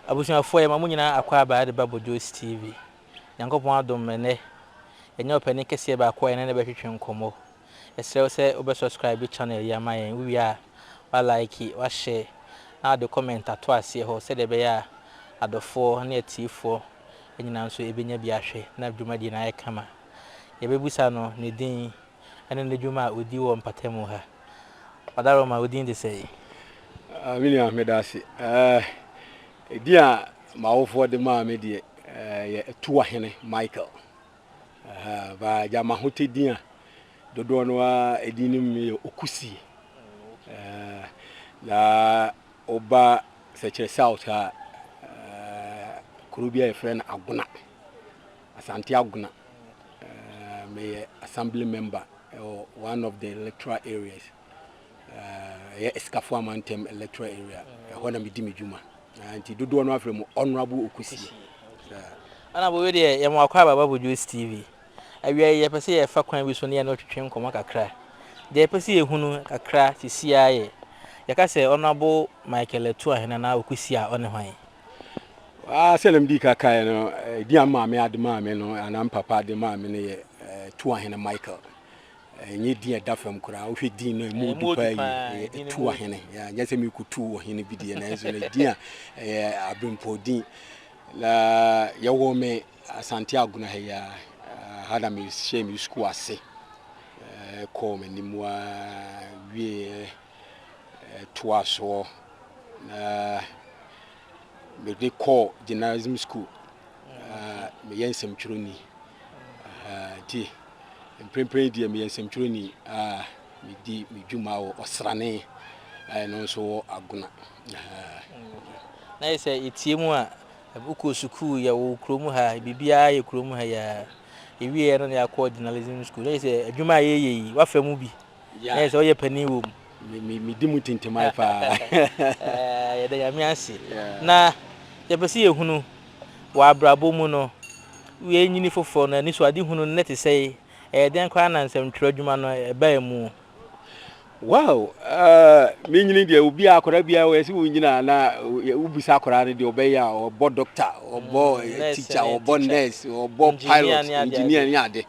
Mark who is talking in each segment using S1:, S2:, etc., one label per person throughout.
S1: Abusuafoɔ yɛma mo nyinaa akwaaba de ba Bojo's TV. Nyankopɔn adom me nnɛ yɛanya ɔpanin kɛseɛ baako a yɛne no bɛtwetwe nkɔmmɔ. Yɛsrɛ wo sɛ wobɛ subscribe channel yi ama yɛn, wowie a wa like, wa share na wode comment ato aseɛ hɔ sɛdeɛ ɛbɛyɛ a adɔfoɔ ne atiefoɔ nyinaa nso bɛnya bi ahwɛ na dwumadie no ayɛ kama. Yɛbɛbisa no ne din ne n'adwuma a ɔdi wɔ mpatamu ha. Ɔdaroma, wo din de sɛn? Ah, me
S2: nua, meda ase. Eh, edin a m'awofoɔ de maa me deɛ eh, yɛ Atuahene Michael. Eh, ba gya m'ahotɛ din a dodoɔ no ara edin no mu yɛ Okusie. Eh, na Woba Sɛkyerɛ South a, kuro bi a yɛfrɛ no Agona, Asante Agona. Meyɛ Assembly Member wɔ one of the electoral areas, ɛyɛ Esikafo Amantam electoral area. Ɛhɔ na medi me dwuma. Nti dodoɔ no afrɛ mu Honourable Okusie.
S1: Honourable, wei deɛ yɛma wakɔ aba Bible Dwuice TV. Awiei yi, yɛpɛ sɛ yɛfa kwan bi so ne yɛne no twetwe nkɔmmɔ kakra. Deɛ yɛpɛ sɛ yɛhu no kakra seesei ara yɛ, yɛka sɛ Honourable Michael Atua hena na Ɔkwesi a ɔne hwan? Ah,
S2: sɛdeɛ medii ka kaeɛ no, din a maame ade maa me no, anaa me papa de maa me no yɛ Tuahene Michael. Ɛnyɛ din a ɛda fam koraa. Wohwɛ din no a, ɛmu ɔdu paa yie. Ɛyɛ Tuahene. Yeah, nyɛ sɛ merekɔtu ɔhene bi deɛ, nanso no din a ɛyɛ abirempɔdin. Na yɛwoo me Asante Agona ha yi ara, ha na mehyɛɛ me sukuu ase kɔɔ m'anim ara wieeɛ toaa soɔ na mede kɔɔ journalism school. Meyɛ nsɛmtwerɛni nti mprempren deɛ meyɛ nsɛmtwerɛni a medi me dwuma wɔ ɔsrane a ɛno nso wɔ Agona.
S1: Na yɛ sɛ yɛtie mu a Wokɔ sukuu yɛ wɔ kurom ha, biribiara yɛ kurom ha yi ara. Yɛwieeɛ no na yɛakɔ journalism school. Na kyerɛ sɛ adwuma a yɛyɛ yi, woafa mu bi. Na kyerɛ sɛ woyɛ panin wɔ mu. Medi mu
S2: tintiman paa.
S1: Yɛda Nyame ase. Na yɛpɛ sɛ yɛhunu wɔ abrabɔ mu no, woanyini foforɔ no, anisoadehunu no na ɛte sɛn? Ɛyɛ dɛn koraa na nsɛmtwerɛ adwuma no bae mu? Wow
S2: uh, me nyini deɛ obi a akwadaa biara wɔyɛ sɛ wonyina na wobisa akwadaa no deɛ ɔbɛyɛ a ɔbɔ doctor ɔbɔ mm, eh, teacher ɔbɔ nurse ɔbɔ pilot engineer ne ade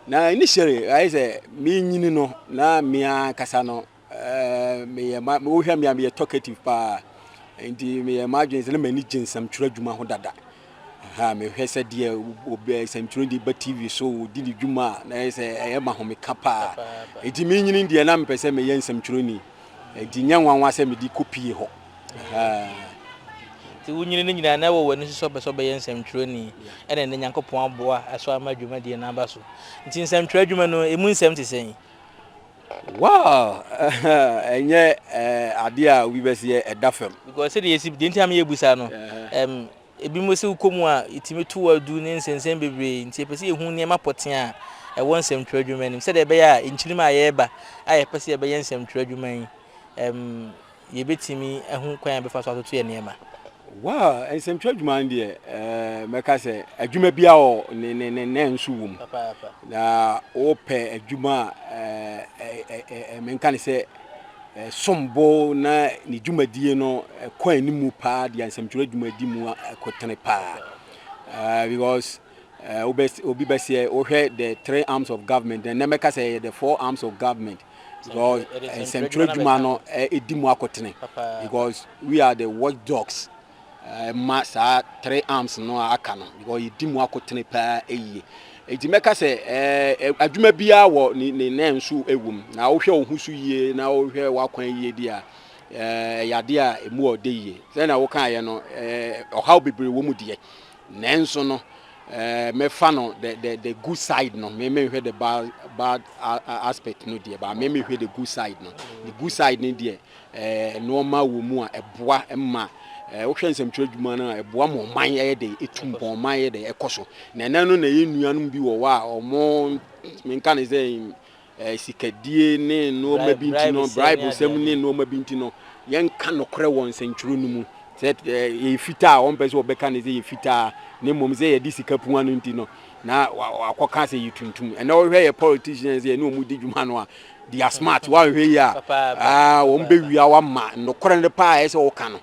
S2: na initially ayɛ sɛ menyini no na mea kasa no eh, meyɛ ma wohwɛ mea meyɛ talkative paa nti meyɛ m'adwene sɛ na m'ani gye nsɛmtwerɛ adwuma ho dada Ahaa, mehwɛ sɛ deɛ ob eh, sɛntwerɛ deɛ ba TV so di ne dwuma a, na ɛyɛ sɛ ɛyɛ ma homeka paa. Enti menyini deɛ na mepɛ sɛ meyɛ nsɛmtwerɛni. Enti nyɛ nwanwa sɛ mede kɔpie hɔ. Ahaa.
S1: Nti wonyini no nyinaa na ɛwɔ w'ani so sɛ wopɛ sɛ wobɛyɛ nsɛmtwerɛni, ɛna ɛnnɛ Nyankopɔn aboa, ɛso ama dwumadie no aba so. Nti nsɛmtwerɛ adwuma no, ɛmu nsɛm te sɛn? Wow!
S2: Ɛnyɛ adeɛ a obi bɛsi ɛda fam. Because sɛdeɛ yɛsi, deɛ nti
S1: a meyɛ busa no, ɛm, ebinom sɛ wokɔ mu a, etumi to adu ne nsɛnsɛm bebree, nti yɛpɛ sɛ yɛhu nneɛma pɔtee a ɛwɔ nsɛmtwerɛ adwuma no mu, sɛdeɛ ɛbɛyɛ a nkyirim a yɛreba a yɛpɛ sɛ yɛbɛyɛ nsɛmtwerɛ adwuma yi, ɛm, yɛbɛtumi ahu kwan a yɛbɛfa so atoto yɛn nneɛma? Well,
S2: nsɛmtwerɛ adwuma no deɛ, mɛka sɛ adwuma biara wɔ ne ne ne ne nso wɔ mu. Na wopɛ adwuma a menka ne sɛ ɛsom bo na ne dwumadie no ɛkɔ anim paa deɛ nsɛmtwerɛ adwuma di mu ɛkotene paa. Because obi bɛseɛ wohwɛ the three arms of government, ɛnɛ mɛka sɛ ɛyɛ the four arms of government. because nsɛntwerɛ adwuma no ɛdi mu akotene because we are the watch dogs ɛma saa three arms no a aka no because yɛdi mu akotene paa ɛyie nti mɛka sɛ adwuma biara wɔ ne ne nan nso ɛwɔ mu na wohwɛ wo ho so yie na wohwɛ w'akwan yie di a ɛyɛ adeɛ a ɛmu ɔde yie sɛdeɛ wokaeɛ no ɔhaw bebree wɔ mu deɛ Nanso no, mɛfa no the the the good side no, me menhwɛ the bad bad aspect no deɛ, ba me mehwɛ the good side no. The good side no deɛ, ɛɛ nneɛma wɔ mu a ɛboa ma ɛɛ wohwɛ nsɛmtwerɛ adwuma no a ɛboa ma ɔman yɛ de etu mpɔn ɔman yɛ de ɛkɔ so. Na ɛnɛ no na yɛn nuanom bi wɔ hɔ a wɔn menka ne sɛ sikadie ne nnoɔma bi nti no, bribesɛm ne nnoɔma bi nti no, yɛnka nokorɛ wɔ nsɛntwerɛ no mu sɛ ɛyɛ fitaa a wɔmpɛ sɛ wɔbɛka ne sɛ yɛ fitaa na mmom sɛ yɛde sika pua no nti no na wakɔka sɛ yɛ tuntum ɛnɛ wohwɛ yɛ politicians yɛ ne ɔmu di dwuma no a they are smart woanhwɛ yi a ah, wɔn bɛwia wama nokorɛ no paa ɛyɛ sɛ woka no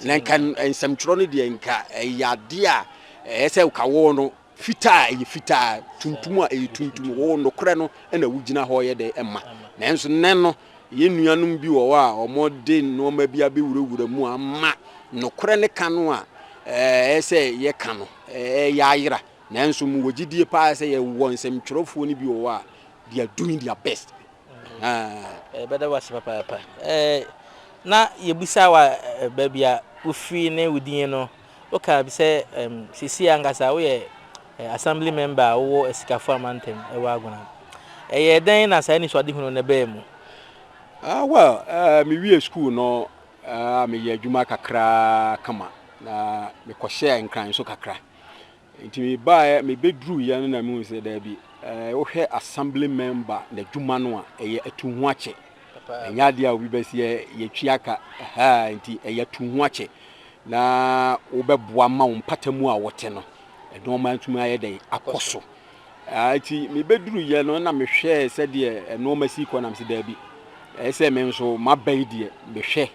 S2: na nka nsɛmtwerɛ no deɛ nka ɛyɛ adeɛ a ɛyɛ sɛ woka wɔ no Fitaa a ɛyɛ fitaa, tuntum a ɛyɛ tuntum, wo nokorɛ no na wogyina hɔ yɛ dɛ ma. Nanso nnɛ no, yɛn nuanom bi wɔ hɔ a wɔde nnoɔma bi abɛwurawura mu ama nokorɛ no ka no a ɛyɛ sɛ yɛka no reyɛ ayera. Nanso mewɔ gyedie pa ara sɛ yɛwɔ nsɛmtwerɛfoɔ no bi wɔ hɔ a they are doing their best. Ahaa.
S1: Yɛbɛda wo ase papaapa. Na yɛbisaa wo a baabi a wofiri ne wo din no Wokaa bi sɛ seesei ankasa woyɛ Assembly Member a wowɔ Asikafo amantam wɔ Agona. Ɛyɛɛ dɛn na saa anisoadehunu no baa mu? Ah, well,
S2: miwiee sukuu no a, meyɛɛ adwuma kakraa kama, na mekɔhyɛɛ Nkran nso kakra. Nti mebaeɛ, mebɛduruiɛ no na mehu sɛ daabi, wohwɛ assembly member n'adwuma no a, ɛyɛ atu ho akyɛ. Ɛnyɛ adeɛ a obi bɛsi ɛ, yɛtua ka, ɛhaa, nti ɛyɛ atu ho akyɛ na wobɛboa ma wo mpata mu a wote no, nnoɔma atumi ayɛ dɛn akɔ so. Enti mibeduruiɛ no na mehwɛɛ sɛdeɛ nnoɔma si rekɔ na mese, Dabi, ɛyɛ sɛ me nso maba yi deɛ mehwɛ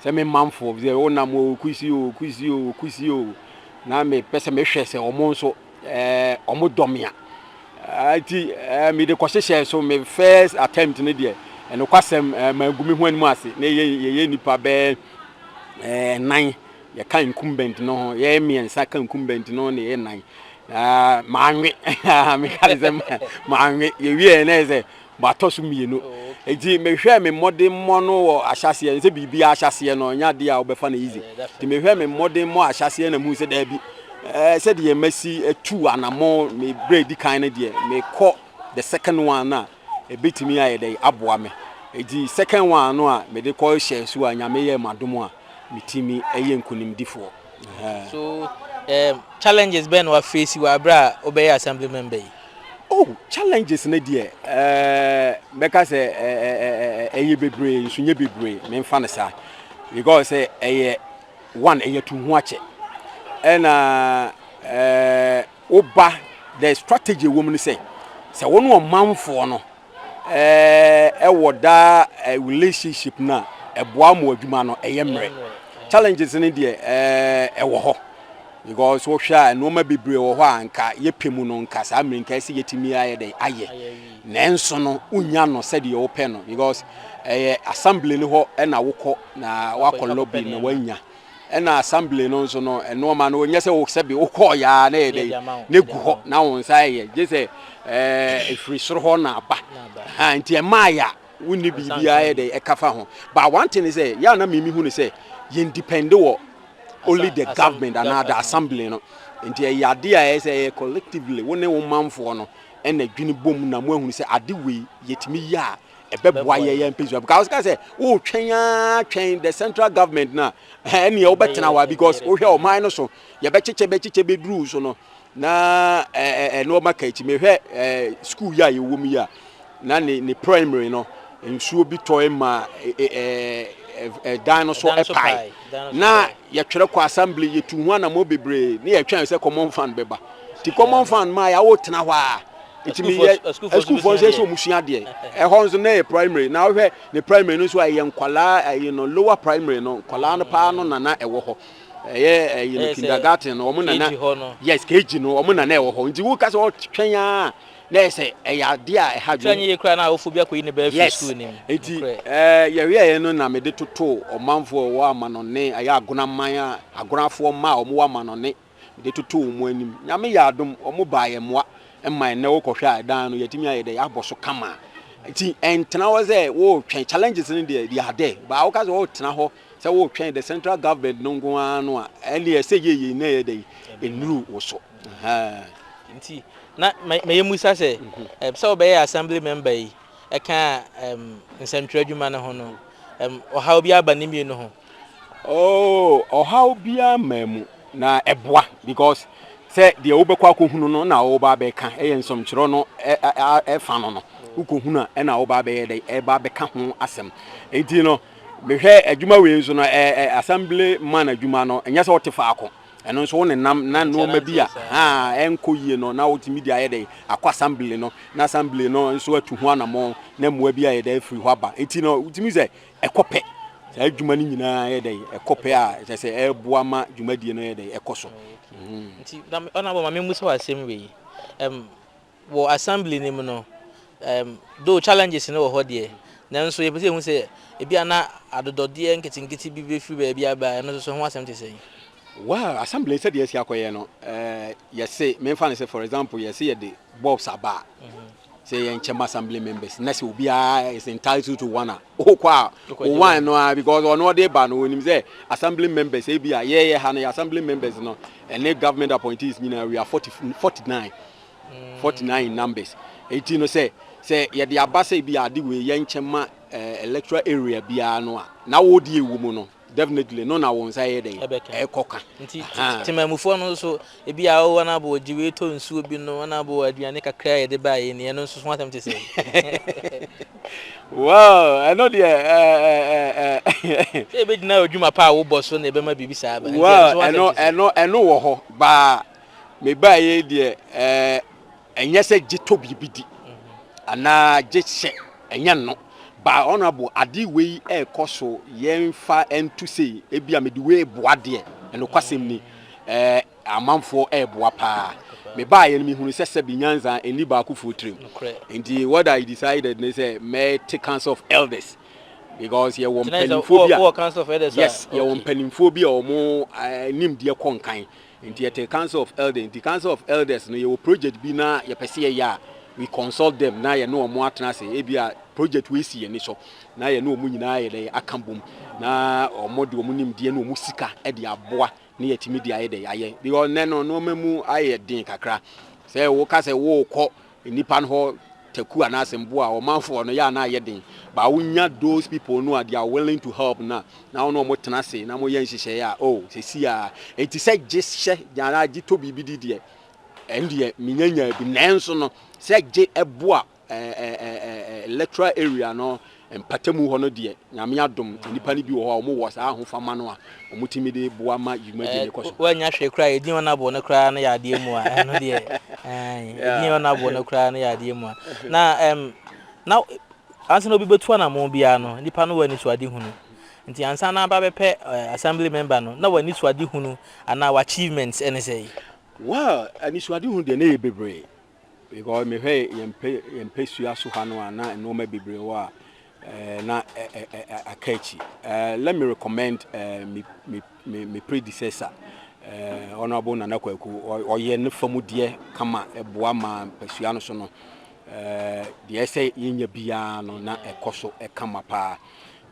S2: sɛ me manfoɔ bi sɛ wonam o, Kusi o, Kusi o, Kusi o, na mepɛ sɛ mehwɛ sɛ wɔn nso ɛɛ wɔdɔ me a. Enti ɛɛ mede kɔhyehyɛɛ so me first attempt no deɛ nokwasɛm ɛɛ mangu me ho anim ase na yɛyɛ nnipa bɛɛ ɛɛ nnan yɛka incumbent no ho yɛyɛ mmiɛnsa ka incumbent no na yɛyɛ nan na manwe meka ne sɛ manwe yɛwieɛ na yɛ sɛ matɔ so mmienu oh, nti mehwɛ me mmɔdemmɔ no wɔ ahyɛseɛ sɛ biribi ahyɛseɛ no ɛnyɛ adeɛ a wobɛfa no easy eh, nti mehwɛ me mmɔdemmɔ ahyɛseɛ na mu sɛ daabi eh, sɛdeɛ masi atu anamɔ me berɛ di kan no deɛ mekɔ the second one a ɛbɛtumi ayɛ dɛ aboa me ɛti second one no a mede kɔ hyɛ so a nyame yɛ madom a metumi yɛ nkonimdifoɔ. So
S1: um, challenges bɛn na wafeesi wɔ abere a wobɛyɛ assembly member yi? Oh, challenges
S2: no deɛ uh, mɛka sɛ ɛyɛ uh, bebree nso nyɛ bebree memfa no saa because sɛ ɛyɛ one ɛyɛ tu ho akyɛ ɛna uh, woba the strategy wɔ mu no sɛ sɛ wo ne ɔmanfoɔ no ɛɛ ɛwɔ daa eh, relationship no a ɛboa mo adwuma no ɛyɛ mmerɛ challenges no deɛ ɛɛ eh, ɛwɔ hɔ because wohwɛ a nneɛma bebree wɔ hɔ a nka yɛpɛ mu no nka saa mmerɛ nka ɛsɛ yɛtumi ayɛ dɛn ayɛ nanso no wonya no sɛdeɛ wopɛ no because ɛyɛ assembly no hɔ ɛna wokɔ na wakɔ lobby na wanya Ɛna assembly no nso no nnoɔma no nyɛ sɛ wo sɛbe wokɔɔ yɛa na ɛyɛ dɛn na ɛgu hɔ na wo nsa ɛyɛ gye sɛ ɛfiri eh, soro hɔ na aba ha nti ɛmaa yɛ a wonni biribiara yɛ dɛn ɛka fa ho but one thing is sɛ yɛ a na mimi hu ne sɛ yɛn depend wɔ only the government anaa the assembly no nti ɛyɛ ade a ɛyɛ sɛ ɛyɛ collectively wo ne wo manfoɔ no ɛna dwene bom na mo ahunu sɛ ade wei yɛtumi yɛ a ɛbɛboa yɛ yɛn mpɛsua because ka sɛ wotwɛn aa twɛn the central government na ɛneɛ eh, wobɛtena wa because wohwɛ ɔman no so yɛbɛkyekyɛ bɛkyekyɛ bɛduru so no na ɛnoɔma eh, eh, ka akyi mehwɛ school yi a yɛwɔ mu yi a na ne ne primary no nsuo bi tɔe ma dan no so ɛpae na yɛtwerɛ kɔ assembly yɛtu ho anammɔ bebree ne yɛtwɛn sɛ common fund bɛba nti common fund ma yɛawo tena hɔ a nti me yɛ asukuufoɔ nso yɛ sɛ wɔn sua adeɛ ɛhɔ nso na yɛ primary na wohwɛ ne primary no nso a ɛyɛ nkwadaa ɛyi no lower primary no nkwadaa no paa no nana ɛwɔ hɔ ɛyɛ ɛyi no kindergarten no wɔn nana yes kg no wɔn nana ɛwɔ hɔ nti woka sɛ ɔtwɛn a na yɛ sɛ ɛyɛ adeɛ a ɛha dwom twɛn yɛ kura na awofo bi
S1: akɔyi ne bɛɛ fi sukuu nim nti ɛɛ
S2: yɛhwɛ yɛ no na mede toto ɔmanfoɔ wɔ amanɔne ɛyɛ agonaman a agonafoɔ mma a wɔn wɔ amanɔne mede toto wɔn anim. Nyame yɛ adom, wɔn baa yɛ mmoa ma ɛnnɛ wo kɔhwɛ a ɛdan no yɛtumi ayɛ dɛ yɛabɔ so kama. Nti ɛntena hɔ sɛ wotwɛn challenges no deɛ they are there. Baa woka sɛ wotena hɔ sɛ wotwɛn the central government no nko ara no a ɛne ɛsɛ yie yie na ɛyɛ dɛ ɛnuru wo so.
S1: Nti na mɛyɛ musa sɛ mhm. sɛ wobɛyɛ assembly member yi ɛka nsɛntwerɛ adwuma no ho no, ɔhaw biara ba ne mmienu ho? Oh, ɔhaw biara
S2: mmaa mu, na ɛboa because sɛ deɛ wobɛkɔ akɔhunu no na woba abɛka ɛyɛ nsɛmtwerɛ no ɛfa no no wokɔhunu a ɛna woba abɛyɛ dɛ ɛba abɛka ho asɛm nti no mehwɛ adwuma wei nso no assembly man adwuma no ɛnyɛ sɛ wote faako Ɛno nso, wo nenam na nnoɔma bi a ɛnkɔ yie no na wotumi de ayɛ dɛn? Akɔ assembly no na assembly no nso atu ho anamɔn na mmoa bi ayɛ dɛn? Afiri hɔ aba. Nti no, wotumi hu sɛ ɛkɔ pɛ. Saa adwuma no nyinaa yɛ dɛn? Ɛkɔ pɛ a kyerɛ sɛ ɛreboa ma dwumadie no yɛ dɛn? Ɛkɔ so. Nti,
S1: na mema memmisa wo asɛm wei. Wɔ assembly no mu no, um though challenges no wɔ hɔ deɛ, nanso yɛpɛ sɛ yɛhu sɛ ebia na adodɔdeɛ nketenkete bi bɛfiri baabi aba a, ɛno nso so ho asɛm te sɛn? Well, assembly
S2: no sɛdeɛ ɛsi akɔyɛ no, um yɛse, memfa no sɛ for example, yɛse yɛde bulbs aba a, sɛ ɛyɛ nkyɛm assembly members na sɛ obiara is entitled to one a, wokɔ a, wo one no ara because ɔno ɔde reba no, ɔnim sɛ assembly members ebia, yɛyɛ ha no, yɛ assembly members no, ɛne government appointees nyinaa, we are 40, 49. forty nine numbers eti no sɛ sɛ yɛde aba sɛ ebi ade wei yɛ nkyɛn ma ɛɛ electoral area biara no a na wɔdi ewu mu no definitely no na wɔn nsa yɛ dɛ ɛkɔ ka. nti temamufoɔ
S1: no nso ebi a ɔwɔ na bɔ gye wei tɔ nsuo bi no na bɔ aduane kakra a yɛde ba yɛ ni ɛno nso so asɛm te sɛ.
S2: wow ɛno deɛ ɛɛ ɛɛ ɛɛ.
S1: sɛ ebe gyina odwuma pa a wobɔ so na ebe ma biribi saa ba. wow ɛno ɛno
S2: ɛno wɔ hɔ baa. Mebaeɛ yi deɛ, ɛɛ, ɛnyɛ sɛ gye tɔ biribi di anaa gye hyɛ, ɛnyɛ no. But honourable, ade wei ɛrekɔ so yɛmfa nto sei, ebi a mede wei reboa deɛ, nokwasɛm ni, ɛɛ, amanfoɔ ɛreboa paa. Mebaeɛ no mehunu sɛ sɛbi nyansa ɛnni baakofoɔ tirim. Nti what I decided ne sɛ mɛte council of elders because yɛwɔ mpanimfoɔ bi a, yes,
S1: yɛwɔ mpanimfoɔ
S2: bi a wɔn eh, nimdeɛ kɔ nkan. Nti yɛte council of elders nti council of elders no yɛwɔ project bi na yɛpɛ sɛ yɛyɛ a we consult them na yɛne wɔn atena ase ebi a project wei si yɛn so na yɛne wɔn nyinaa yɛ dɛ aka bom na wɔn de wɔn nimdeɛ ne wɔn sika de aboa ne yɛtumi de ayɛ dɛ ayɛ because nnɛ no nneɛma mu ayɛ den kakra sɛ woka sɛ wokɔ nnipa no hɔ taku anaasɛ mboa a ɔmanfoɔ no yɛ a na ayɛ den but wo nya those people no a they are willing to help no a na wo ne ɔmo tena ase na mo yɛ nhyehyɛeɛ a oh sɛsi a enti sɛ gye hyɛ anaa gye tɔ biribi di deɛ ɛn deɛ menya nyaa bi nanso no sɛ gye ɛboa eh, eh, eh, eh, eh, electoral area no Mpatamu hɔ no deɛ, Nyame adom, nnipa no bi wɔ hɔ a wɔn wɔ saa ahofama no a wɔn tumi de boa ma dwumadie no kɔ so. Wannya hwee koraa a, edin a wɔn
S1: abɔ no koraa no yɛ adeɛ mua, ɛno deɛ, aane, edin a wɔn abɔ no koraa no yɛ adeɛ mua. Na, ɛm, na, ansa na obi bɛtu anamɔn biara no, nnipa no wɔ anisoadehunu. Nti ansa na bɛabɛpɛ, ɛɛ, Assembly Member no, na w'anisoadehunu anaa w'achievements ne sɛn? Well,
S2: anisoadehunu deɛ na ɛyɛ bebree. Because me hwɛ yɛn pɛ yɛn pɛ sua so ha no a na nneɛma bebree wɔ a eh, na eh, eh, eh, eh aka akyi. Eh, let me recommend eh, me, me, me, me predecessor. Eh, Honorable Nana Kwaku, ɔyɛ ne fa mu deɛ kama ɛboa ma mpɛsua no so no. Eh, deɛ ɛsɛ yɛnya biara no na ɛkɔ so ɛkama paa.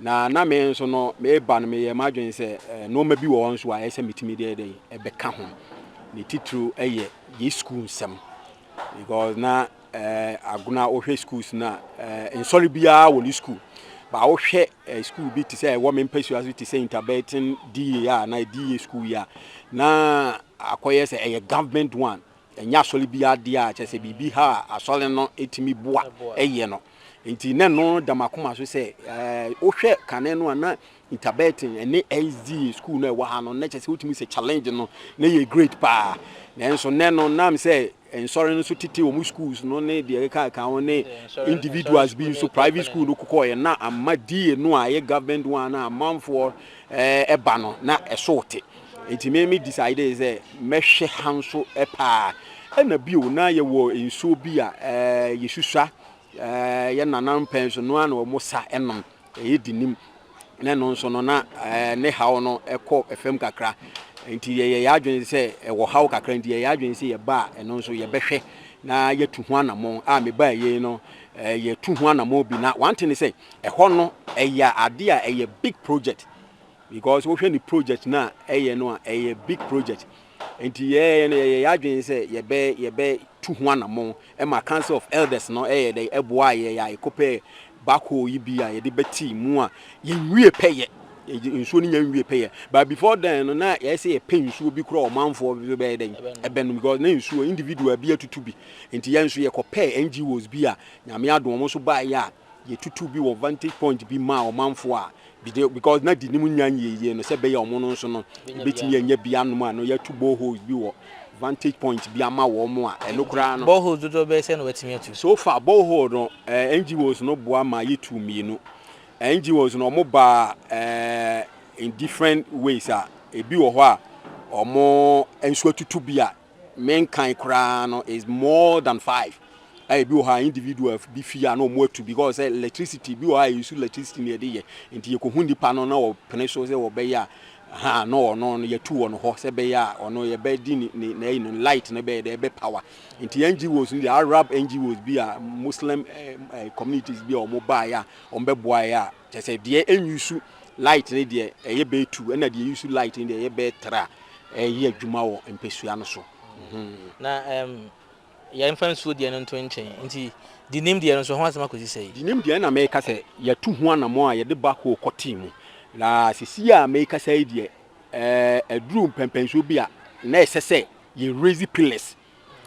S2: Na na me nso no, mereba no, meyɛɛ m'adwene sɛ nnoɔma bi wɔ hɔ nso a ɛyɛ sɛ metumi de dɛn ɛbɛka ho. Ne titiriw yɛ yɛn sukuu nsɛm because na eh, agona wohwɛ schools na eh, nsɔre biara wɔ ne sukuu ba wohwɛ eh, sukuu bi te sɛ ɛwɔ me mpasua so te sɛ interbetin da a na da sukuu yi a na akɔyɛ sɛ ɛyɛ government one Ɛnyɛ asɔre biara dea, kyerɛ sɛ biribi ha a asɔre no tumi boa yɛ no nti, na ɛno da m'akoma so sɛ wohwɛ kane no a na Interbetten ne SDA sukuu no a ɛwɔ ha no, na kyerɛ sɛ wotumi sɛ challenge no na ɛyɛ great paa. Nanso nnɛ no, na ɛm sɛ nsɔre no nso tete wɔn schools no ne deɛ ɛkeka ho ne individuals bi nso private school no kokɔɔyɛ na ama DA no a ɛyɛ government one a amanfoɔ ɛba no na ɛso te. Enti me me decidee sɛ mɛhwɛ ha nso paa. Ɛna bio na yɛwɔ nsuo bi a yɛsusua yɛn nana mpɛn so no ara na wɔn sa nom. Ɛyɛ dinim. Na ɛno nso no na ne haw no kɔ fam kakra. Enti yɛyɛ yɛn adwene sɛ ɛwɔ haw kakra nti yɛyɛ adwene sɛ yɛba a ɛno nso yɛbɛhwɛ na yɛatu ho anammɔn. A mebaa yei no yɛtu ho anammɔn bi na one thing ne sɛ ɛhɔ no ɛyɛ adeɛ a ɛyɛ big project. Because wohwɛ ne project no a ɛyɛ no a, ɛyɛ big project. Nti yɛɛ no yɛyɛ yɛadwene sɛ yɛbɛ yɛbɛ tu ho anammɔn. Ɛma Council of Elders no ɛyɛ dɛ ɛboaa yɛn a yɛkɔpɛɛ backhoe yi bi a yɛde bɛtee mu a yɛnwie pɛyɛ. Yɛgye nsuo no nya nwie pɛyɛ. But before then no na ɛyɛ sɛ yɛpɛ nsuo bi koraa ɔmanfoɔ bi bɛyɛ dɛ ɛbɛnom because na nsuo individual bi atutu bi. Nti yɛn nso yɛkɔpɛɛ NGOs bi a Nyame adom wɔn nso baeɛ a Yɛtutuu bi wɔ vantage point bi maa ɔmanfoɔ a, because na Dinim nnya nyieyie no, sɛ ɛbɛyɛ a wɔn no nso no, yɛbɛtumi anya bi anom a no, yɛatu boreholes bi wɔ vantage point bi ama wɔn a, ɛno koraa no. Boreholes dodoɔ bɛyɛ sɛn na wɔatumi atu? So far, borehole no, eh, NGOs no
S1: boa
S2: ma yɛtuu
S1: mmienu.
S2: Eh, NGOs no, wɔn baa eh, in different ways a, ebi wɔ hɔ a, wɔn nso atutu bi a, Me nkan koraa no is more than five a ebi wɔ hɔ a individual bi fie a na wɔn atu because sɛ electricity ebi wɔ hɔ a yɛsu electricity na yɛde yɛ nti yɛkɔhu nipa no na wɔpene so sɛ wɔbɛyɛ a ha na ɔno no yɛtu wɔ no hɔ sɛ bɛyɛ a ɔno yɛbɛdi ne na ɛyi no light no bɛyɛ dɛ ɛbɛ power nti NGOs no deɛ Arab NGOs bi a Muslim eh, eh, communities bi a wɔn baeɛ a wɔn bɛboaeɛ a Kyerɛ sɛ deɛ ɛnuse light no deɛ ɛyɛ bɛyɛ tu ɛna deɛ ɛuse light no deɛ ɛyɛ bɛyɛ tra ɛyɛ adwuma wɔ mpɛsua no so. Na
S1: ɛm yɛmfa nsuo deɛ no nto nkyɛn nti denim deɛ no nso ho asɛm akɔsi sɛn? Denim deɛ ɛna meka sɛ
S2: yɛatu ho anamɔn a yɛde backhoe kɔtee mu na sesie a mekasa yi deɛ ɛɛ aduru mpɛnpɛnsoɔ bi a na ɛsɛ sɛ yɛ raise pillars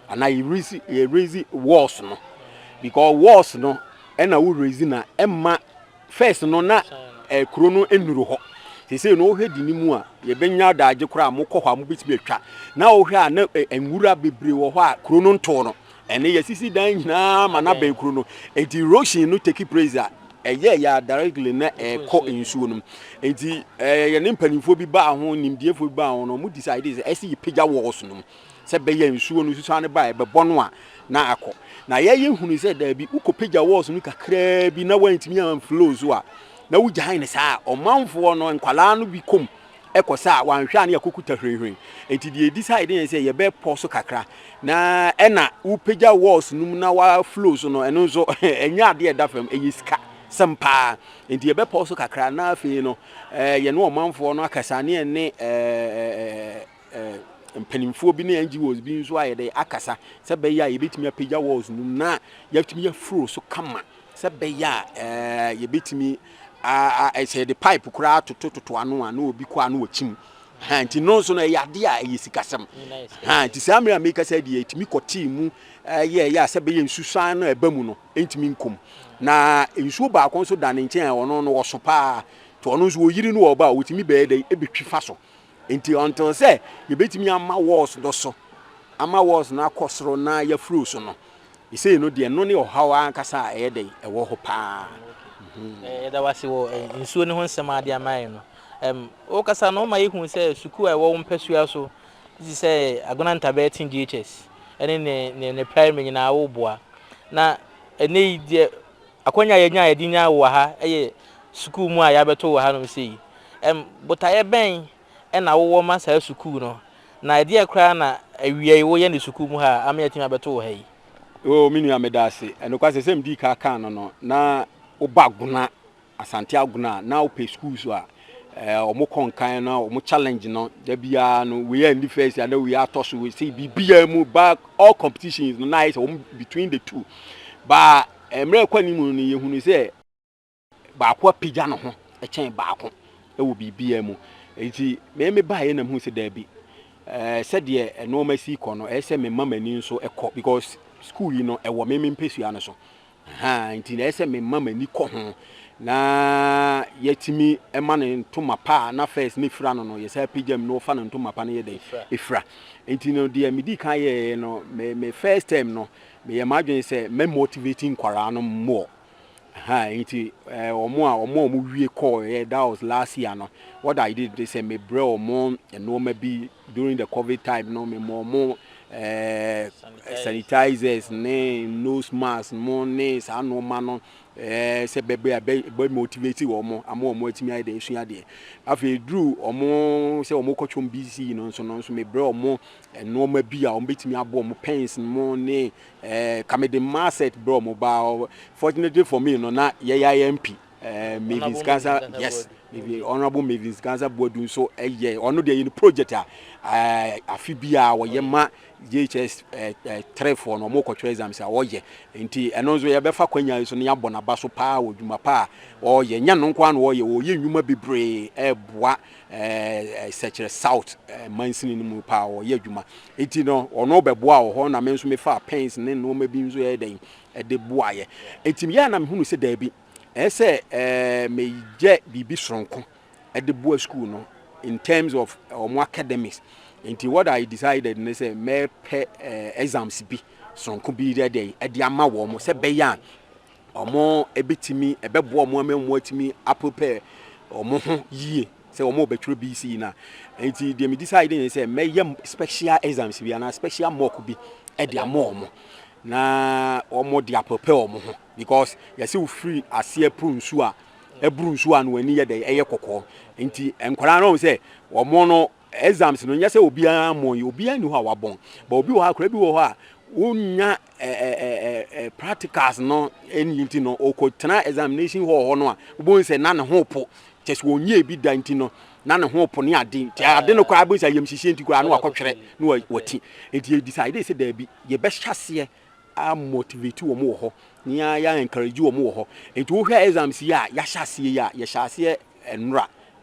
S2: anaa yɛ raise yɛ raise walls no because walls no ɛna wo raise na ɛma first no na ɛɛ kuro no nnuru hɔ sese no wohwɛ di ne mu a yɛbɛnya daagye koraa a mokɔ hɔ a mobɛtumi atwa na wohwɛ a na ɛɛ nwura bebree wɔ hɔ a kuro no ntoo no ɛne yɛsisi dan nyinaa ma na bɛn kuro no nti erosion no take place a ɛyɛ yɛ a directly na ɛkɔ nsuo no nti ɛɛ yɛne mpanimfoɔ bi baa ho nimdiefoɔ bi baa ho no wɔn decide sɛ ɛsɛ yɛpagya walls no mu. Sɛ ɛbɛyɛ nsuo no susuane ba a ɛbɛbɔ no a, na akɔ. Na yɛyɛ hunuu sɛ daabi, wokɔpagya wɔɔso no kakraa bi na wantumi amflow so a, na wogyae no saa. Ɔmanfoɔ no nkwadaa no bi kɔm kɔ sa a, wɔanhwɛ a na yɛakɔkuta hwirenhwiren. Enti deɛ yɛdisae de ne sɛ yɛbɛpɔ so kakra. Na ɛna wopagya wɔɔso no mu na waflow so no, ɛno nso ɛnyɛ adeɛ a ɛda fam, ɛyɛ sika sɛm pa ara. Enti yɛbɛpɔ so kakra na afei no yɛne ɔmanfoɔ no akasa ne yɛne mpanimfoɔ bi ne NGOs bi nso ayɛ dɛ akasa sɛ bɛyɛ a yɛbɛtumi apagya walls no mu na yɛatumi afuro so kama sɛ bɛyɛ a eh, yɛbɛtumi sɛ yɛde pipe koraa totototo ano a na obi kɔ a na wɔkyim ha nti no nso no ɛyɛ adeɛ a ɛyɛ sikasɛm ha nti saa mmerɛ a meka sɛ deɛ ɛtumi kɔtee mu yɛ yɛ a sɛ bɛyɛ nsusan no ɛba mu no ɛntumi nkom na nsuo baako nso da ne nkyɛn a ɔno no wɔso paa nti ɔno nso wɔyiri no wɔ ɔba a wɔtumi bɛyɛ dɛn ɛbɛtwi fa so Enti ɔntoo sɛ yɛbɛtumi ama walls no so, ama walls no akɔ soro na yɛafuro so no. Sesei no deɛ no ne ɔhaw ankasa a ɛyɛ dɛn? Ɛwɔ hɔ paa. Yɛda
S1: wo ase wɔ nsuo no ho nsɛm a wode ama yɛn no. Ɛm, wokasa no, woma yɛhu sɛ sukuu a ɛwɔ wo mpasua so, te sɛ Agona Ntabɛɛ Teen DHS ne ne, ne, ne primary nyinaa, woboa. Na ɛnnɛ yi deɛ Akwanya a yɛanya a yɛde nyaa wo wɔ ha yɛ sukuu mu a yɛabɛto wɔ hanom sei. Ɛm, botaeɛ bɛn na wowɔ ma saa sukuu no, na ɛdeɛn koraa na awiei woyɛ no sukuu mu ha a ama yɛatumi abɛto wo ha yi? Oo, me nua, meda
S2: ase. Ɛnokwasɛ, sɛdeɛ medii ka kaa no no, na woba Agona, Asante Agona a, na wopɛ sukuu so a ɛɛ, wɔkɔ nkan no, wɔn challenge no, da biara no, wei anni first anaa wei atɔ so, wei sei, biribiara mu, ba, all competitions no, na ayɛ sɛ wɔn between the two, ba, Mmerɛ rekɔ anim no, yɛhunuu sɛ baako apagya ne ho kyɛn baako wɔ biribiara mu. Enti me mebaeɛ na mehuu sɛ daabi, sɛdeɛ nnoɔma si rekɔ no, ɛyɛ sɛ mema m'ani nso kɔ because sukuu yi no, ɛwɔ me me mpɛsua no so. Nti ɛyɛ sɛ mema m'ani kɔ ho na yɛatumi ma no ntoma pa a na first ne fira no no, yɛsan apagya mu na wɔfa no ntoma pa no yɛ dɛn? Ɛfira. Enti no deɛ medii kan yɛeɛ no, me first term no, meyɛ m'adwene sɛ mɛ motivate nkwaraa no more ɛhaa nti ɛɛ wɔn a wɔn a wɔn wie kɔɔɛ that was last year no what I did de sɛ me brɛ wɔn nneɛma bi during the covid time no me mɔ wɔn ɛɛ sanitizers ne nose mask mo ne saa nneɛma no ɛɛ sɛ bɛbrɛ a bɛ bɛ motivate wɔn ama wɔn atumi ayɛ deɛ esua deɛ afei duru wɔn sɛ wɔn kɔtwom BC no nso no nso me brɛ wɔn nnoɔma bi a wɔbɛtumi aboa wɔn pens no mu ne eh, ka mede mmaa set berɛ wɔn ba fortunately for me no na yɛyɛ imp eh, mavins gansa yes honorable mavins gansa boadu nso ɛyɛ ɔno deɛ yɛ no project a eh, afe bi a wɔyɛ ma jhs eh, eh, trɛfoɔ no wɔkɔtwerɛ exams a wɔyɛ nti ɛno nso yɛbɛfa kwanya yi so na yɛabɔ n'aba so paa wɔ dwuma pa a ɔyɛ nyɛ no nko a na ɔyɛ wɔyɛ nnwuma bebree ɛboa Sɛkyerɛ South mansini no mu paa ɔyɛ adwuma nti no ɔno bɛboa wɔ hɔ na me nso mefaa pens ne nnoɔma bi nso yɛyɛ dɛn de boaeɛ nti meyɛ a na mehunu sɛ daabi ɛyɛ sɛ meyɛ biribi soronko de boa sukuu no in terms of wɔn academics nti what I decided ne sɛ mɛpɛ exams bi soronko bi yɛ dɛn de ama wɔn sɛ bɛyɛ a wɔbɛtumi, ɛbɛboa wɔn ama wɔatumi aprepare wɔn ho yie sɛ wɔn a wɔbɛtwerɛ BC no a. Nti deɛ me decide ne sɛ mɛyɛ special exams bi anaa special mock bi de ama wɔn na wɔn de aprepare wɔn ho because yɛsɛ wofiri aseɛ poro nsuo a ɛboro nsuo a na wɔn ani yɛ dɛ ɛyɛ kɔkɔɔ nti nkwadaa no sɛ wɔn no exams no nyɛ sɛ obiara mmɔ yi obiara ni hɔ a wabɔn but obi wɔ hɔ a koraa bi wɔ hɔ a wonya ɛɛ practicals no ɛni nti no ɔkɔ tena examination hall hɔ no a wobɛhu sɛ na ne ho po kyɛ sɛ wɔnyɛ bi da nti no na ne ho po ne ade nti ade no koraa bɛhu sɛ ayamhyehyeɛ nti koraa na wakɔtwerɛ na wati nti yɛdecide sɛ daabi yɛbɛhyɛ aseɛ amotivate wɔn wɔ hɔ na yɛ encourage wɔn wɔ hɔ nti wohwɛ exams yi a yɛahyɛ aseɛ yi a yɛhyɛ aseɛ nnora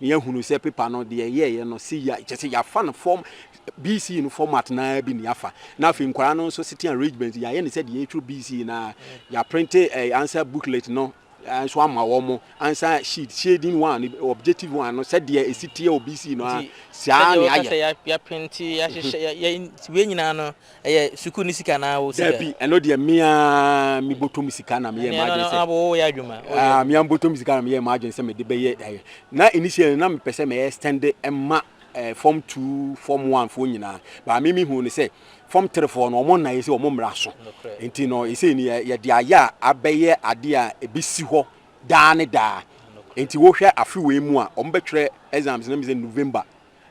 S2: Na yɛahunu sɛ paper no, deɛ ɛyɛeɛ no, se ya, kyerɛ sɛ yɛafa no form, BCE no format no ara bi na yɛafa. Na afei nkwadaa no nso sitting arrangements, yɛayɛ no sɛ deɛ yɛtwerɛ BCE no ara. Yɛaprente ɛɛ answer booklet no ara nso ama wɔn, answer sheet, shading one, objective one no, sɛdeɛ ɛsi teɛ wɔ BCE no ara, saa na yɛayɛ. Nti sɛdeɛ woka sɛ yɛaprente,
S1: yɛahyehyɛ, yɛ, yɛ, nti wei nyinaa no, Ɛyɛ sukuu ne sika anaa wo sika? Dabi, ɛno deɛ me
S2: ara me bɔtɔ mu sika na me yɛɛ m'adwene sɛ. Ɛno no wo yɛ adwuma? Ah,
S1: me ara me bɔtɔ mu sika
S2: na me yɛɛ m'adwene sɛ me de bɛyɛ ɛyɛ. Na initially na me pɛ sɛ me extend ma eh, form two, form one foɔ nyinaa. But me me hu ne sɛ form three foɔ no wɔn nna yɛ sɛ wɔn mmra so. Nti no ɛsɛ ni yɛ de ayɛ a abɛyɛ adeɛ a ɛbɛsi hɔ daa ne daa. Nti wohwɛ afe wei mu a wɔn bɛtwerɛ exams no me sɛ November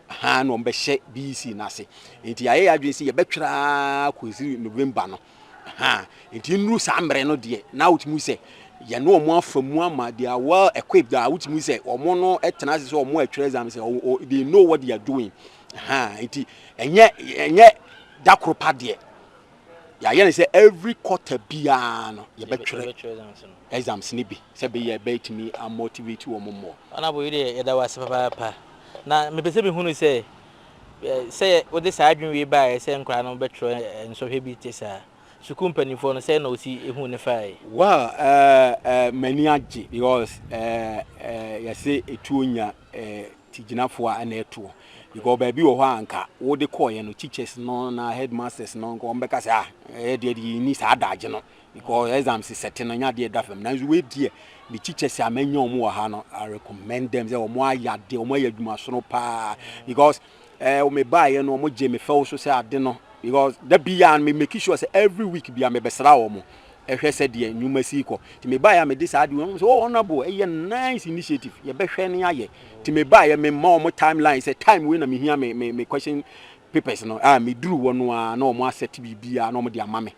S2: ha na wɔbɛhyɛ BEC no ase nti yɛayɛ yɛ adwene sɛ yɛbɛtwerɛ ara kɔsiri November no ha nti nnuru saa mmerɛ no deɛ na wotumi sɛ yɛne wɔn afa mu ama they are well equipped a wotumi sɛ wɔn no tena ase sɛ wɔn atwerɛ exam sɛ oh, oh, they know what they are doing ha nti ɛnyɛ ɛnyɛ dakoro pa deɛ yɛayɛ no sɛ every quarter biara no yɛbɛtwerɛ exams no bi sɛ bɛyɛ bɛtumi amotivate wɔ mo mmɔ ɔnabo yi deɛ yɛda
S1: wase papaapa na mepɛ sɛ mehunu sɛ sɛ wode saa adwene wei baeɛ sɛ nkwadaa no bɛtwerɛ nsɔhwɛ bi te saa sukuu mpanimfoɔ no sɛ na ɔsi ehu ne fae well uh, uh,
S2: m'ani agye because uh, uh, yɛse ɛtuo nya tigyinafo a na ɛtoɔ because baabi wɔ hɔ a nka wode kɔɔyɛ no teachers no na headmasters no nka wɔbɛka sɛ ah ɛyɛ deɛ deɛ yɛnni saa adagye no because exams sɛte no nyɛ adeɛ ɛda fam nanso wei deɛ me teachers a manya wɔn wɔ ha no I recommend them sɛ wɔn ayɛ adeɛ wɔn ayɛ adwuma sono paa because ɛɛ eh, me baayɛ no wɔn gye me fɛw so sɛ ade no because da bi a me make sure sɛ every week bi a mebɛsra wɔn hwɛ sɛdeɛ nnwuma si rekɔ. Nti mebaeɛ a mede saa adeɛ, wɔn sɛ, oh honourable, ɛyɛ nice initiative, yɛbɛhwɛ na yɛayɛ. Nti mebaeɛ, mema wɔn time line sɛ time wei na mehia me me me question papers no. Ah, meduru hɔ no ara na wɔn asɛte biribiara na wɔde ama me.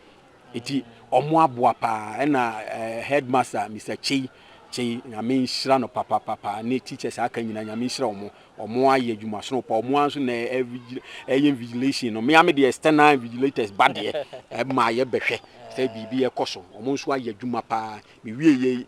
S2: Nti wɔn aboa paa. Ɛna eh, headmaster Mr. Kyei Kyei, Nyame nhyira no papapapa, ne teachers a aka nyinaa Nyame nhyira wɔn. Wɔn ayɛ adwuma sono pa. Wɔn ara nso na ɛyɛ invigilation no. Mmea me deɛ external invigilators ba deɛ ɛma yɛ bɛhwɛ sɛ biribi ɛkɔ so. Wɔn nso ayɛ adwuma paa. Me wie yɛ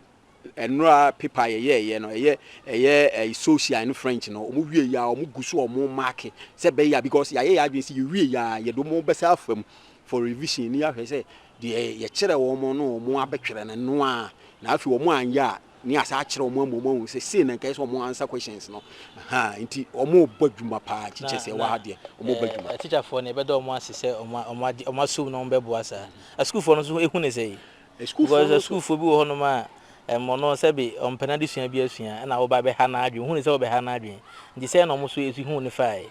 S2: ɛnura paper yɛ yɛ yɛ no ɛyɛ ɛyɛ ɛyɛ social ne French no. Wɔn wie yɛ a wɔn gu so wɔn maake sɛ bɛyɛ a because yɛayɛ yɛ adwene sɛ yɛ wie yɛ a yɛ de wɔn bɛsa afa mu for revision ne yɛahwɛ sɛ deɛ yɛkyerɛ wɔn no wɔn abɛtwerɛ no noa na afei wɔn anyɛ a ne asa akyerɛ wɔn ama wɔn ahu sɛ sei na nkae sɛ wɔn ansa questions no ahaa nti wɔn rebɔ adwuma paa teachers ɛwɔ ha deɛ wɔn rebɔ adwuma. na teacher foɔ no ɛbɛda wɔn
S1: ase sɛ wɔn wɔn ade wɔn asum na wɔn bɛboa saa asukuu foɔ no nso ehu ne sɛyi asukuu foɔ no asukuu foɔ bi wɔ hɔ nom a ɛmɔ no sɛbi wɔn mpɛ n'adesua bi asua ɛna wɔba abɛha n'adwene ohu ne sɛ wɔbɛha n'adwene nti sɛɛ na wɔn nso ehu ne faae.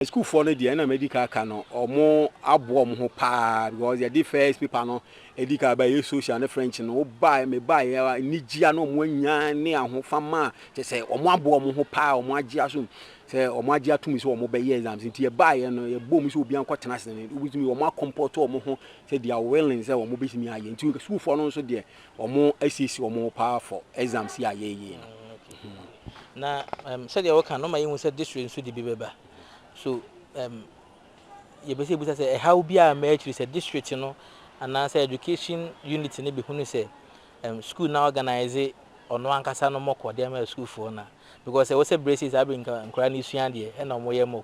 S1: Sukuufoɔ
S2: no deɛ na madi kan aka no wɔn aboa wɔn ho paa because yɛde first paper no edi kan ba yɛ social ne French no woba me ba yɛ anigyia na wɔn anya ne ahofama kyɛ sɛ wɔn aboa wɔn ho paa wɔn agye asom sɛ wɔn agye atum sɛ wɔn bɛyɛ exams nti yɛ ba yɛ no yɛ bɔ mu sɛ obi ankɔ tena ase ne obi tumi wɔn akɔmpɔtɔ wɔn ho sɛ they are willing sɛ wɔn bɛtumi ayɛ nti sukuufoɔ no nso deɛ wɔn asiesie wɔn ho paa for exams yi a yɛyɛ no.
S1: Na um, sɛdeɛ wɔka no ma yɛhu sɛ this way nso de bi bɛba so um, yɛbɛsɛ yɛbusa sɛ ɛhaw bi a ma akyiri sɛ district no anaasɛ education unit no bɛhunu sɛ um, school na organize ɔno ankasa no mɔkɔ deɛ ma sukuufoɔ no because ɛwɔ sɛ berɛ sei saa bɛ nkora no sua deɛ ɛna wɔyɛ mɔk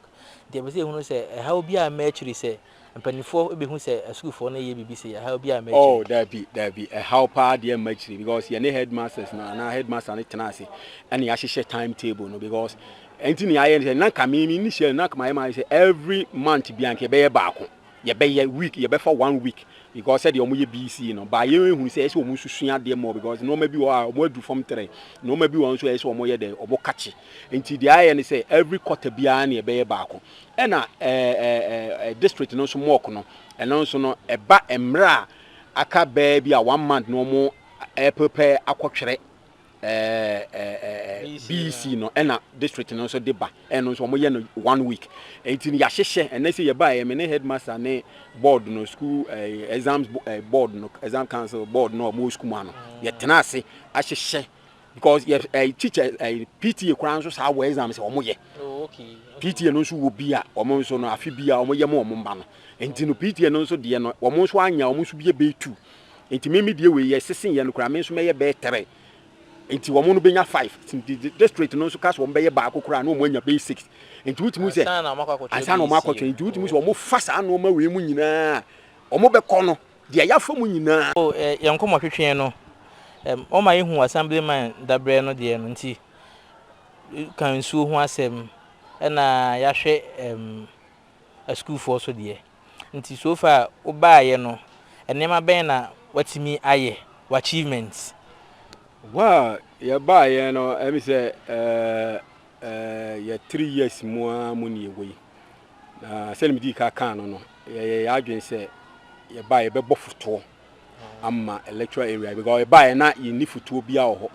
S1: nti ɛbɛsɛ yɛhunu sɛ ɛhaw bi a ma akyiri sɛ Mpanimfoɔ bɛhu sɛ asukuufoɔ no reyɛ biribi sei, ɛhaw biara mma akyire. Oh, daabi, daabi,
S2: ɛhaw pa ara deɛ mma akyire because yɛne headmasters no anaa headmaster no tenaa ase ɛna yɛahyehyɛ time table no because ɛnti ne yɛayɛ no sɛ na nka me me nni hyɛ na nka mayɛ mayɛ sɛ every month bia nka yɛbɛyɛ baako yɛbɛyɛ week yɛbɛfa one week because sɛdeɛ wɔn yɛ BC no baa yɛn ehunu sɛ ɛsɛ wɔn susua adeɛ mɔ because nneɛma bi wɔ hɔ a wɔn adu fam tere nneɛma bi wɔ hɔ nso ɛsɛ wɔn yɛ dɛ wɔn kakye nti deɛ ayɛ no sɛ every quarter biara na yɛbɛyɛ baako Ɛna ɛɛ district no nso mock no, ɛno nso no ɛba mmerɛ a aka bɛɛ bi a one month no wɔn ɛɛprepɛ akɔtwerɛ ɛɛ BEC no ɛna district no nso de ba, ɛno nso wɔn yɛ no one week. Ɛnti no yɛahyehyɛ, ɛnɛ sɛ yɛbaeɛ me ne headmaster ne board no school ɛɛ exams board no exam council board no a wɔn wɔ school mu ha no yɛtenaa ase ahyehyɛ because yɛ ɛyi eh, teacher ɛyi eh, pta koraa nso saa wɔ exam sɛ wɔn yɛ oh,
S1: pta no nso wɔ
S2: bi a wɔn nso no afi bi a wɔn yɛ mo wɔn mma no nti no pta no nso deɛ no wɔn nso anya wɔn nso bi yɛ bɛyɛ two nti mímí deɛ wɔ yɛ sisi yɛ no koraa mi nso mɛyɛ bɛyɛ three nti wɔn no bɛnya five nti district no nso kasi wɔn bɛyɛ baako koraa na wɔn anya bɛyɛ six nti wotumi sɛ ansa na wɔn akɔtɔ nti wotumi sɛ wɔn fa saa nneɛma wei mu nyinaa wɔn bɛkɔ no. Deɛ yɛafa mu nyinaa. O yɛn nkɔmɔtwetweɛ
S1: no, wɔma yɛhu Assemblyman dabrɛ no deɛ no nti, ka nsuo ho asɛm na yɛahwɛ asukuufoɔ so deɛ. Nti so far wobaeɛ no, nneɛma bɛn na woatumi ayɛ, w'achievements? Wɔ
S2: a yɛbaeɛ no, ɛmi sɛ Ɛɛ yɛ three years mu ara mu ne yɛwɔ yi. Na sɛdeɛ medii ka kaa no no, yɛyɛ yɛn adwene sɛ yɛba yɛbɛbɔ fotoɔ ama electoral area because yɛbaeɛ na yɛnni fotoɔ biara wɔ hɔ.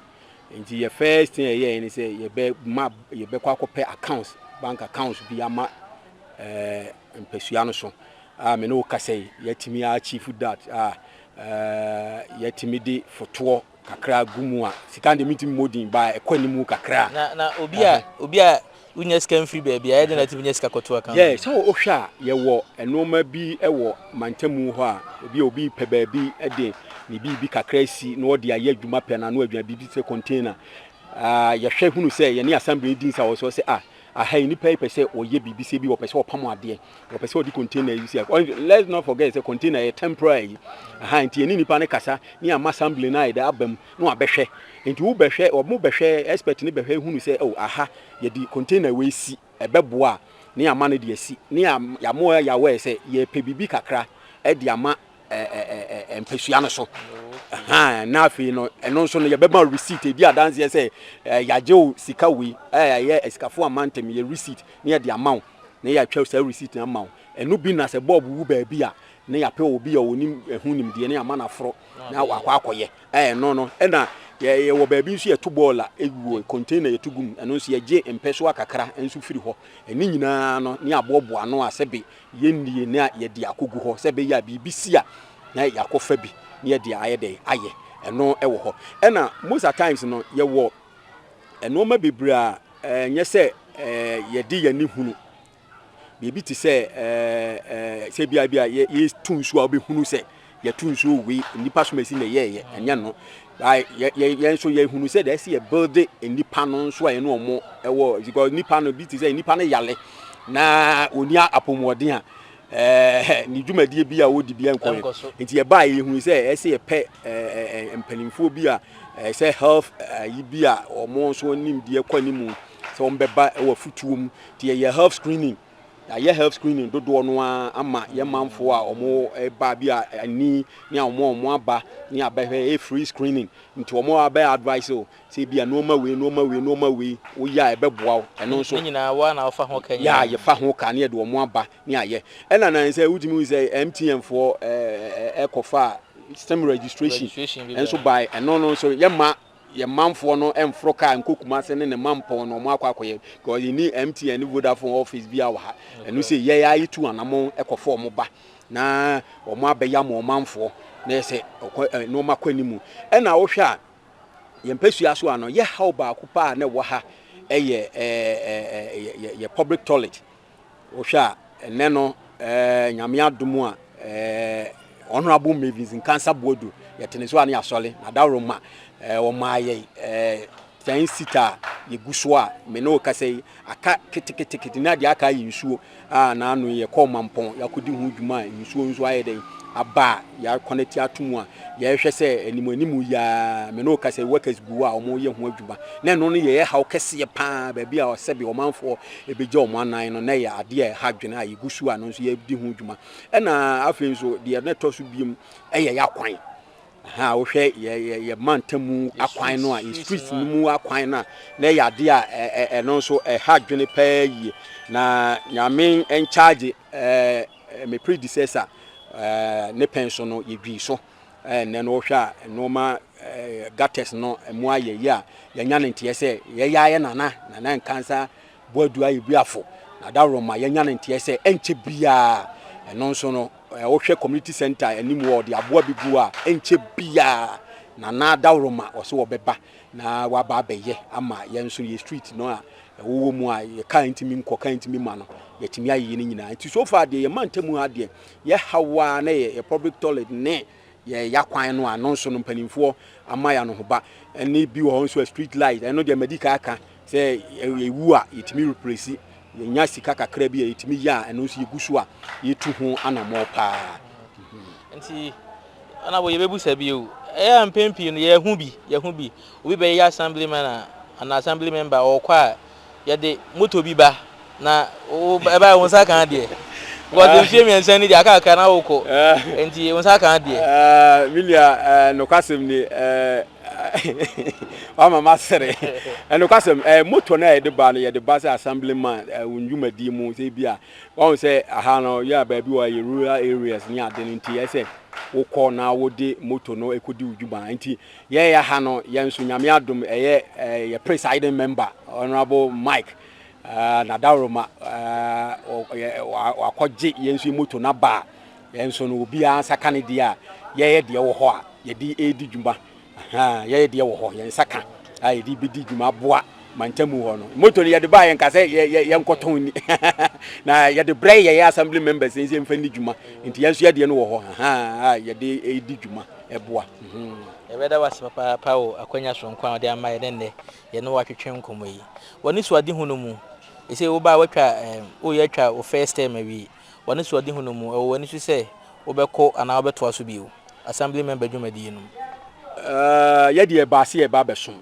S2: Nti yɛ first thing yɛyɛɛ ne sɛ yɛbɛma yɛbɛkɔ akɔpɛ accounts, bank accounts bi ama ɛɛ mpasua no so a me ne wo kasa yi yɛatumi achieve that a ɛɛ yɛatumi de fotoɔ Kakra gu mu a, sika no deɛ mentumi mmɔ din, but ɛkɔ anim kakra. Na na obi a
S1: obi a wonya sika mfiri baabi a, ɛyɛ dɛn na watumi anya sika akɔto account? Yeah, sɛ wohwɛ a,
S2: yɛwɔ nneɛma bi wɔ mantamu hɔ a, ebi a obi pɛ baabi de ne biribi kakra asi na ɔde ayɛ adwuma pɛ na ano adwuma biribi te sɛ container. Ah, yɛhwɛ hunu sɛ yɛne Assembly di nsa wɔ so sɛ ah, Aha yi nnipa yi pɛ sɛ wɔyɛ biribi sɛ bi wɔpɛ sɛ wɔpam adeɛ wɔpɛ sɛ wɔde container yi si let's not forget sɛ container yɛ temporary yi aha nti yɛne nnipa no kasa ne ama assembly no ayɛ dɛ abam na wabɛhwɛ nti wobɛhwɛ wɔn bɛhwɛ expert no bɛhwɛ hunu sɛ oh aha yɛde container wei si ɛbɛboa a ne ama no de asi ne yɛamoa yɛawɛ sɛ yɛpɛ biribi kakra de ama ɛɛ mpasua no so ɛhan na afei no ɛno nso no yɛbɛma receipt edi adanseɛ sɛ ɛɛ yagye o sika wei ɛɛ yɛ asikafo ama ntɛm yɛ receipt ne yɛde ama wo na yɛatwa saa receipt na ama wo ɛno bi na sɛ bɔɔb wu baabi a ne yɛapɛ wɔ bi a wɔnim ɛho nimdeɛ ne ama no aforɔ na wakɔ akɔyɛ ɛɛ no no ɛna yɛwɔ baabi nso yɛto bɔɔl a ɛwuo container yɛto gum ɛno nso yɛgye mpɛsoa kakra nso firi hɔ ɛne nyinaa no ne aboɔboa ano a sɛbe Yɛnnie na yɛde akɔgu hɔ sɛ ɛbɛyɛ a biribi si a na yɛakɔfa bi na yɛde ayɛ dɛn ayɛ, ɛno wɔ hɔ. Ɛna most at times no yɛwɔ nnoɔma bebree a ɛnyɛ sɛ yɛde yɛn ani hunu, biribi te sɛ sɛ bia bia yɛtu nsuo a wobɛhunu sɛ Yɛto nsuo wei nnipa som asi na ɛyɛɛyɛ ɛnyɛ no yɛn nso yɛhunu sɛ deɛ ɛsi yɛ build nnipa no nso a yɛne ɔmo ɛwɔ because nnipa no bi te sɛ nnipa no yale na ɔni apɔmuden a ɛɛ ne dwumadie bi a ɔdi bi nkɔ yɛ nti yɛbaa yɛhunu sɛ ɛsi yɛpɛ ɛɛ mpanimfoɔ bi a ɛɛ sɛ health ɛyi bi a ɔmo nso nimdeɛ kɔ ne mu sɛ ɔmo bɛba ɛwɔ futuo mu nti yɛyɛ health screening. Yɛayɛ health screening dodoɔ no ara ama yɛn manfoɔ a wɔreba bi a ani ne a wɔn a wɔaba ne abɛhwɛ ɛyɛ free screening nti wɔn a bɛ advice o sɛ ebi a nneɛma wei nneɛma wei nneɛma wei woyɛ a ɛbɛboa wo ɛno nso ne nyinaa wo a na wofa ho ka
S1: nyinaa yɛ a yɛfa ho ka ne
S2: yɛde wɔn aba ne ayɛ ɛna nan sɛ wotumi hu sɛ MTN foɔ ɛɛ ɛkɔfa stem registration registration bi bɛn nso by ɛno no nso yɛma yɛn manfoɔ no mforo kaa nkɔ Kumase ne ne mampɔn no wɔn akɔ akɔyɛ because yɛn ni MTN ne Vodafone office bi a wɔ ha ɛno sɛ yɛn a yɛtu anamɔn ɛkɔfɔ wɔn ba na wɔn abɛyam wɔn manfoɔ na yɛ sɛ nneɛma kɔ anim ɛna wohwɛ a yɛn mpɛsua so ano yɛ haw baako paa na ɛwɔ ha ɛyɛ ɛɛ yɛ public toilet Wohwɛ a, ɛnnɛ no, Nyame adom a, Honourable Mavis Nkansah Boadu, yɛte ne so a ne yɛasɔre, na dawuroma wɔmaa yɛn ten sita a yɛgu so a me ne wo kasa yi aka ketekete na deɛ aka ayɛ nsuo a na ano yi yɛkɔɔ Mampɔn yɛakɔdi ho dwuma a nsuo nso ayɛ dɛn aba a yɛakɔnɛte ato mu a yɛhwɛ sɛ anim anim yi a me ne wo kasa yi workers gu a wɔyɛ ho adwuma na ɛno no yɛyɛ haw kɛseɛ paa baabi a ɔsɛbe ɔmanfoɔ ɛbɛgya wɔn anan no na ɛyɛ adeɛ a ɛha dwene a yɛgu so a no nso yɛdi ho dwuma ɛna afei nso deɛ na ɛtɔ so biom ɛyɛ yɛ akwan ha wohwɛ yɛ yɛ yɛ mantam mu akwan no a yɛ street no mu akwan no a na ɛyɛ adeɛ a ɛno nso ɛha dwene paa yie na nyame nkyagye ɛɛ me predecessor ɛɛ ne pɛn so no yɛdwii so ɛɛ nnɛ no wohwɛ a nneɛma ɛɛ gutters no ɛmu ayɛ yie a yɛnya ne nteɛ sɛ yɛyɛ ayɛ nana nana nkansa boadu ayɛ bi afo na dawuroma yɛnya ne nteɛ sɛ ɛnkyɛ biara ɛno nso no ɛɛ wohwɛ community center anim wɔ ɔde aboa bi gu a ɛnkyɛ biara nana dawuroma ɔsɛ wɔbɛba na waba abɛyɛ ama yɛn nso yɛ street no a ɛwowɔ mu a yɛ kaa ntumi nkɔ kaa ntumi ma no yɛtumi ayɛ ne nyinaa nti so far deɛ yɛ mantam ha deɛ Yɛ haw ara na yɛ yɛ public toilet ne yɛ ya kwan no a no nso no mpaninfoɔ ama yɛ anohoba ɛne bi wɔ hɔ nso a street light ɛno deɛ madi kaa ka sɛ yɛ wu a yɛ tumi replesi yɛ nya sika kakra bi a yɛ tumi yɛ a ɛno nso yɛ gu so a yɛ tu ho anamɔ paa. Nti
S1: ɛna wɔ yɛ bɛ bu sa bi o ɛyɛ a mpɛn pii no yɛ hu bi yɛ hu bi obi bɛ yɛ assembly man a anaa assembly member ɔɔkɔ a Yɛde motor bi ba na ɛbaeɛ wo nsa kaa deɛ because mfie mmiɛnsa ni deɛ aka kakra na wokɔ nti wo nsa kaa deɛ. Me nua
S2: nokwasɛm ni wama masere nokwasɛm motor no a yɛde ba no yɛde ba sɛ assembly man wo ndwumadie mu sɛ bi a wahu sɛ aha no yɛ a baabi wɔ yɛ rural areas ne ade no nti ɛsɛ wokɔ na wode motor no ɛkɔdi wo dwuma nti Yɛɛya ha no yɛn nso Nyame adom ɛyɛ yɛ presiding member Honourable Mike Nadaworoma wakɔ gye yɛn nso yɛ moto no aba a yɛn nso no obiara nsa ka ne deɛ a yɛyɛ deɛ wɔ hɔ a yɛde ɛredi dwuma yɛyɛ deɛ wɔ hɔ yɛn nsa ka a yɛde bɛdi dwuma aboa mantamu hɔ no moto no yɛde baa yɛn ka sɛ yɛnkɔtɔn ni na yɛde brɛ yɛyɛ assembly members nso yɛmfa ni dwuma nti yɛn nso yɛdeɛ no wɔ hɔ a yɛde ɛredi dwuma ɛboa. Yɛbɛda wo
S1: ase papaapa wɔ akwanya soronko a wode ama yɛn ne nnɛ yɛne wo atwetwe nkɔmmɔ yi. W'anisoadehu no mu, seesei wobaa woatwa woreyɛ atwa wo first term awie, w'anisoadehu no mu, ɛwɔ w'ani so sɛ wobɛkɔ anaa wobɛtoa so bio Assembly Member dwumadie no mu?
S2: Yɛdeɛ ɛbaa sɛ yɛreba abɛsom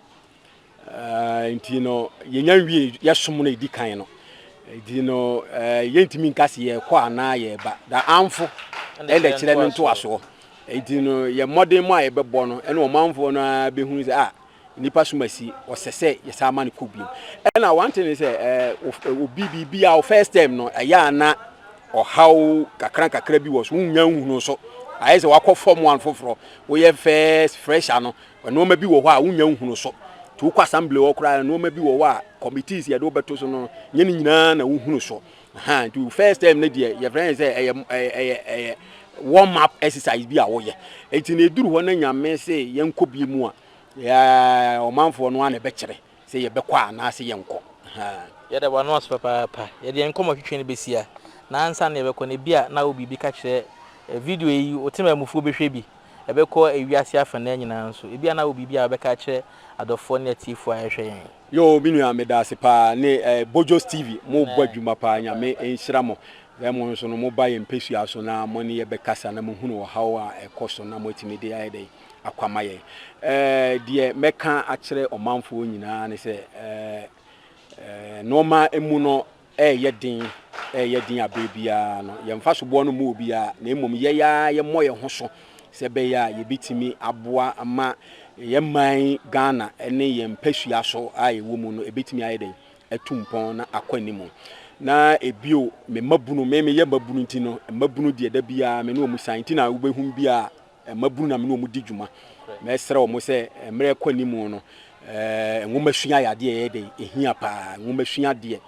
S2: Ɛɛ, nti no, yɛnya nwie yɛ som no ɛdi kan no. Nti no, ɛɛ, eh, yɛntumi nka se yɛkɔ anaa yɛba. Da amfo ɛna kyerɛ no ntoasoɔ. Nti no, yɛ mmɔden mu a yɛbɛbɔ no, ɛne ɔmanfoɔ no a bɛhunu sɛ, ah, nipa som asi, ɔsɛ sɛ yɛsan ma no kɔ biom. Ɛna one thing is eh, obi biribi a first time no ɛyɛ a na ɔhaw kakra kakra bi wɔ so wonya nhunu so ayɛ sɛ wakɔ fam one foforɔ woyɛ first fresher no Nnoɔma bi wɔ hɔ a wonnya nhunu so. Nti wokɔ assembly hɔ koraa nnoɔma bi wɔ hɔ a committees yɛde wo bɛto so no nyɛ ne nyinaa na wohunu so. Ahaa nti wo first term no deɛ yɛfrɛ ne sɛ ɛyɛ ɛyɛ ɛyɛ warm up exercise bi a woyɛ. Nti na ɛduru hɔ na Nyame se yɛnkɔ bi mu a, yeah, ɔmanfoɔ no ara na ɛbɛkyerɛ. sɛ yɛbɛkɔ a anaasɛ yɛnkɔ. Ahaa. Yɛda wo ano
S1: ase papaapa. Yɛde yɛn nkɔmmɔ twetwe no bɛsi ha, na ansa na yɛbɛkɔ no, ebia na wowɔ biribi ka kyerɛ ɛ, video yi, wo temanmufoɔ bɛhwɛ bi, ɛbɛkɔ ewiase afanaa nyinaa nso. Ebia na wowɔ biribi a wobɛka akyerɛ adɔfoɔ ne atiefoɔ a ɛrehwɛ yɛn. Yoo me nua meda
S2: ase paa ne eh, Bojos TV mo bɔ adwuma paa nyame nhyira mo eh, mo nso no mo ba yɛn mpɛsua so na mo ne yɛ bɛkasa na mo hunu ɔhaw a ɛkɔ so na mo atumi de ayɛ dɛn akwamayɛ. Deɛ mɛka akyerɛ ɔmanfoɔ nyinaa ne sɛ, nnoɔma mu no reyɛ den, reyɛ den a berɛ biara no, yɛn mfasoboɔ no mmu obiara, na mmom yɛn ara yɛmmɔ yɛn ho so sɛ ɛbɛyɛ a yɛbɛtumi aboa ma yɛn man Ghana ne yɛn mpasua so a yɛwɔ mu no, ɛbɛtumi ayɛ dɛn atu mpɔn na akɔ anim. Na ebio, me mmabunu, me meyɛ mmabunu nti no, mmabunu deɛ da biara me ne wɔn san, nti na wobɛhu biara Mmabunu na me ne wɔn di dwuma. Mɛsrɛ wɔn sɛ mmerɛ rekɔ anim no, nwomasua yɛ adeɛ a ɛyɛ dɛ, ɛhia paa. Nwomasua deɛ,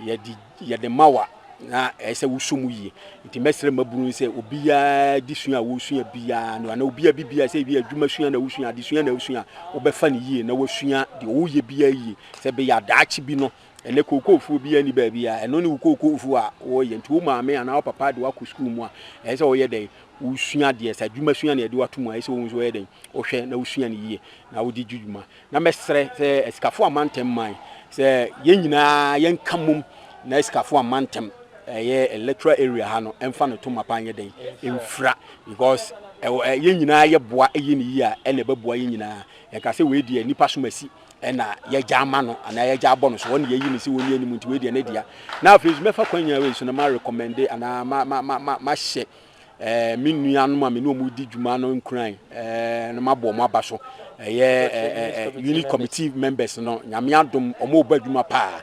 S2: yɛde yɛde ma wo a, na ɛyɛ sɛ wosɔ mu yie. Nti mɛsrɛ mmabunu no sɛ obiara di sua a wɔresua biara no, anaa obiara bi biara, sɛ ebi a adwuma sua na wosua, adesua na wosua a, wobɛfa no yie na wasua deɛ ɔreyɛ biara yie, sɛ ɛbɛyɛ a daakye bi no, Ɛnnɛ kookoowfuo biara nni baabi a ɛno ne wo kookoowfuo a wɔreyɛ. Nti wo maame anaa wo papa de wo akɔ sukuu mu a, ɛsɛ sɛ woyɛ dɛn? Wosua adeɛ. Sɛ adwumasua na yɛde wo ato mu a, ɛsɛ sɛ wohu sɛ woyɛ dɛn? Wohwɛ na wosua no yie na wode di dwuma. Na mɛsrɛ sɛ Asikafoɔ Amantam Man, sɛ yɛn nyinaa yɛnka mmom na Asikafoɔ Amantam, ɛyɛ electoral area ha no, ɛmfa ne to mapa nyɛ dɛn? Ɛmfira. Because yɛn nyinaa yɛboa yɛ no yie a, ɛnna ɛbɛboa yɛn nyinaa. Yɛnka sɛ wei deɛ nnipa som asi. ɛna yɛgya ama no anaa yɛgya abɔ no so ɔne yɛyi ne sɛ wɔnni anim nti wei deɛ ne dea na afei nso mɛfa kwan nyinaa wei so no ma recommende anaa ma ma ma ma mahyɛ ɛɛ me nuanom a me ne wɔn di dwuma no nkuran ɛɛ no mabɔ wɔn aba so ɛyɛ ɛɛ unit committee members no nyame adom wɔn ɔbɔ adwuma paa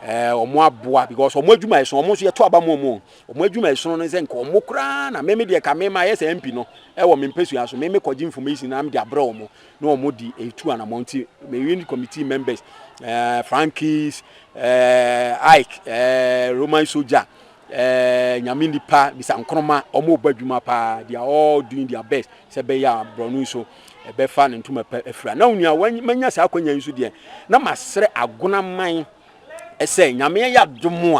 S2: ɛɛ wɔn aboa because wɔn adwuma ɛso wɔn nso yɛto aba mu wɔn wɔn adwuma ɛso no sɛ nka wɔn koraa na meme deɛ ka mema yɛ sɛ mp no ɛwɔ me mpɛsua so meme kɔgye information na mede abrɛ wɔn na wɔn di etu anamɔn ti me unit committee members ɛɛ eh, frankies ɛɛ eh, ike ɛɛ eh, roman soldier ɛɛ nyame nipa bisa nkoroma wɔn ɔbɔ adwuma paa they are all doing their best sɛ bɛyɛ a borɔno nso ɛbɛfa ne ntoma pɛ afira na onua wɔn manya saa akɔnya yi nso deɛ na masrɛ agonaman. sɛ nyame ayɛ adom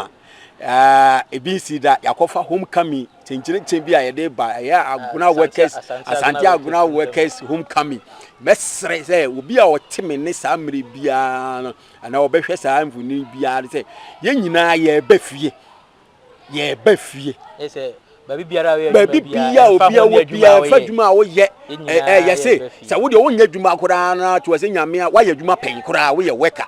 S2: a ebi nsi da yɛakɔfa homecoming kyenkyerekyere bi a yɛde ba ɛyɛ agona workers asante agona workers homecoming mɛsrɛ sɛ obi a ɔte me ne saa mmere biara no anaa ɔbɛhwɛ saa mfonini biara sɛ yɛn nyinaa yɛbɛ fie yɛreba fie. baabi
S1: biara a obiara wɔ
S2: biara ɛfa adwuma a woyɛ ɛyɛ se sɛ wodeɛ wonyɛ adwuma koraa na to ɛsɛ nyame a woayɛ adwuma pɛn koraa woyɛ wɛka